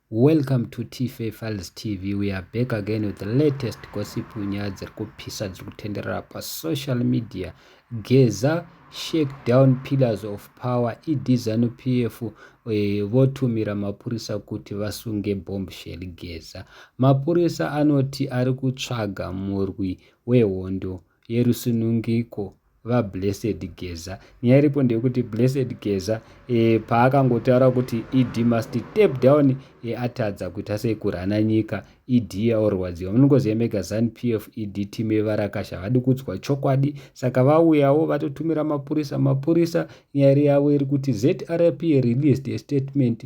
Welcome to Tife Files TV. We are back again with the latest gossip nyaya dziri kupisa dziri kutenderera pa social media. Geza shake down pillars of power ED Zanu PF eh, votumira mapurisa kuti vasunge bombshell Geza. Mapurisa anoti ari kutsvaga murwi wehondo yerusunungiko vaBlessed Geza. Nyaya iripo ndeyekuti Blessed Geza e, paakangotaura kuti ED must step down e, atadza kuita sei kurana nyika ED yaorwadziwa. Munongoziva mega Zanu PF ED team yevarakasha havadi kudzwa chokwadi, saka vauyawo vatotumira mapurisa. Mapurisa nyaya yavo iri kuti ZRP released a statement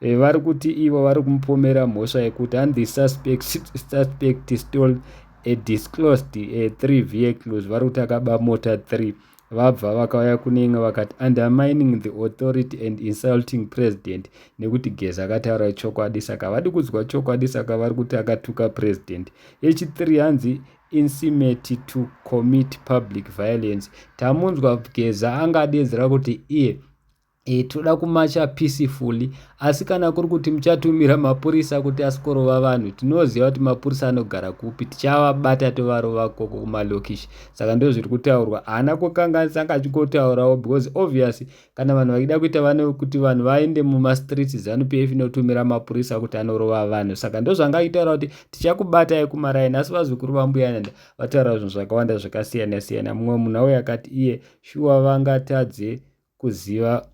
Eh, vari kuti ivo vari kumupomera mhosva yekuti and the suspect, suspect stole a disclosed a eh, three vehicles vari kuti akaba mota three vabva vakauya kune imwe vakati undermining the authority and insulting president nekuti gezi akataura chokwadi saka vadi kudzwa chokwadi saka vari kuti akatuka president yechithree hanzi insimeti to commit public violence tamunzwa geza angadedzera kuti iye E, toda kumacha peacefully asi kana kuri kuti muchatumira mapurisa kuti asikorova vanhu tinoziva kuti mapurisa anogara kupi tichavabata tovarova koko kumalokishi saka ndo zviri kutaurwa haana kukanganisa anga achikotaurawo because obviously kana vanhu vachida kuita vane kuti vanhu vaende mumastreets zanu p f inotumira mapurisa kuti anorova vanhu saka ndo zvanga achitaura kuti tichakubatai kumaraini asi vazukuru vambuyananda vataura zvinhu zvakawanda zvakasiyana siyana mumwe munhu auya akati iye shuwa vangatadze kuziva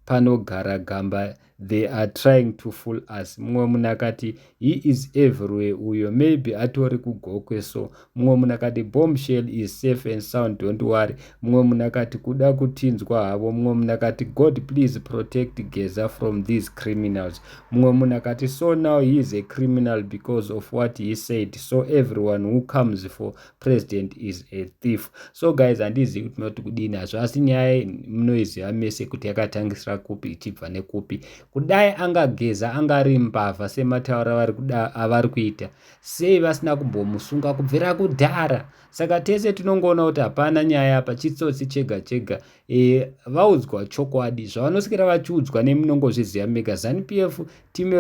panogara gamba they are trying to fool us mumwe munhu akati he is everywhere uyo maybe atori kugokwe so mumwe munhu akati bomb shell is safe and sound don't worry mumwe munhu akati kuda kutinzwa havo mumwe munhu akati god please protect geza from these criminals mumwe munhu akati so now he is a criminal because of what he said so everyone who comes for president is a thief so guys handizivi kuti munoti kudini hazvo asi nyaya munoiziva mese kuti yakatangisira kupi ichibva nekupi kudai angageza anga ari mbavha semataura avari kuita sei vasina kumbomusunga kubvira kudhara saka tese tinongoona kuti hapana nyaya apa chitsotsi chega chega e, vaudzwa chokwadi zvavanosikira vachiudzwa nemi nongozviziva mega zanp f timu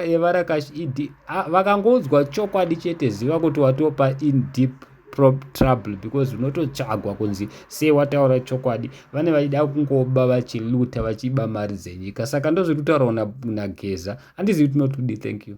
yevarakash ed vakangoudzwa chokwadi chete ziva kuti watopa in deep trouble because unototsvagwa kunzi sei wataura chokwadi vane vachida kungoba vachiluta vachiba mari dzenyika saka ndozviri kutaurawo nageza andizivi tinotudi thank you